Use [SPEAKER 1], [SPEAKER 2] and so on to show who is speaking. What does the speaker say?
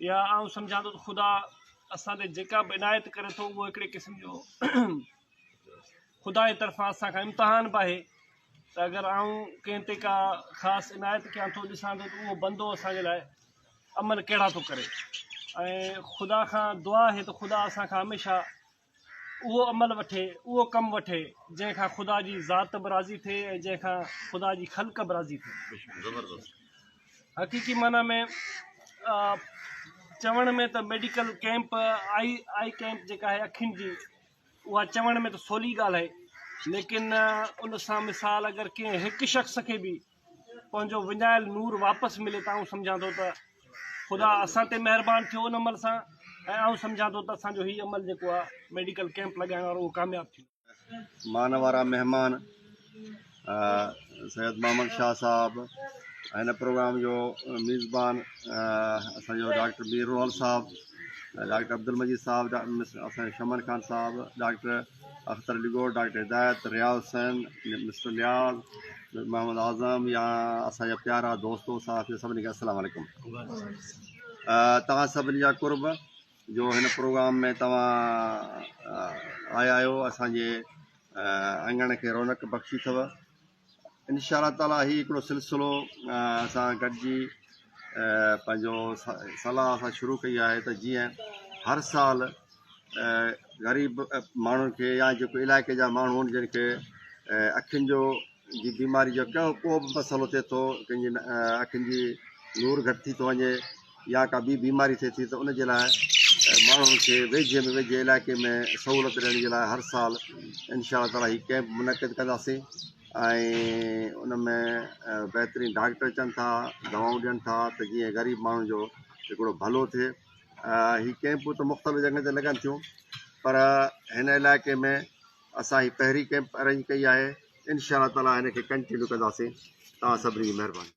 [SPEAKER 1] يا آئون سمجهان ٿو ته خدا اسان تي جيڪا به عنايت ڪري ٿو اهو هڪڙي قسم جو خدا جي طرفان اسان کان امتحان به آهي ته اگر آئون ڪنهن تي ڪا خاص عنايت ڪيان ٿو ڏسان ٿو ته اهو بندو اسان جي لاء عمل ڪهڙا ٿو ڪري ۽ خدا کان دعا آهي ته خدا اسان کان هميشه اهو عمل وٺي، اهو ڪم وٺي، جنهن کان خدا جي ذات به راضي ٿئي ۽ جنهن کان خدا جي خلق به راضي ٿئي. حقيقي معنيٰ ۾ چوڻ ۾ ته medical camp, eye eye camp جيڪا آهي اکين جي، اها چوڻ ۾ ته سولي ڳالهه آهي، ليڪن ان سان مثال اگر ڪنهن هڪ شخص کي به پنهنجو وڃايل نور واپس ملي ته آئون سمجهان ٿو ته خدا اسان تي مهربان ٿيو ان عمل سان ۽ آئون سمجهان ٿو ته اسان جو هي عمل جيڪو آهي ميڊيڪل ڪيمپ لڳائڻ وارو اهو ڪامياب ٿيو. مان وارا مهمان
[SPEAKER 2] سيد محمد شاهه صاحب هن پروگرام جو ميزبان اسان جو ڊاڪٽر مير روحل صاحب ڊاڪٽر عبدالمجيد صاحب اسان جو شمن خان صاحب ڊاڪٽر اختر علي ڳوڙ، ڊاڪٽر هدايت، رياض حسين، مسٽر نياز، محمد اعظم يا اسان جا پيارا دوستو صحافيو سڀني کي السلام عليڪم توهان سڀني جا قرب جو هن پروگرام ۾ توهان آيا آهيو اسان جي اڱڻ کي رونق بخشي اٿو ان شاء الله تعالٰي هي هڪڙو سلسلو اسان گڏجي پنهنجو صلاح اسان شروع ڪئي آهي ته جيئن هر سال غريب ماڻهن کي يا جيڪو علائقي جا ماڻهو آهن جن کي اکين جو جي بيماري جو ڪهڙو ڪو به مسئلو ٿئي ٿو ڪنهن جي اکين جي نور گهٽ ٿي ٿو وڃي يا ڪا ٻي بيماري ٿئي ٿي ته ان جي لاء ماڻهن کي ويجهي ۾ ويجهي علائقي ۾ سهولت ڏيڻ جي لاء هر سال انشاء الله تعالٰي هي ڪيمپ منعقد ڪنداسين ۽ ان ۾ بهترين ڊاڪٽر اچن ٿا دوائون ڏين ٿا ته جيئن غريب ماڻهن جو هڪڙو ڀلو ٿئي هي ڪيمپون ته مختلف جڳهن تي لڳن ٿيون پر هن علائقي ۾ اسان هي پهرين ڪيمپ ارينج ڪئي آهي انشاء الله تعالٰي هن کي ڪنٽينيو ڪنداسين توهان سڀني جي مهرباني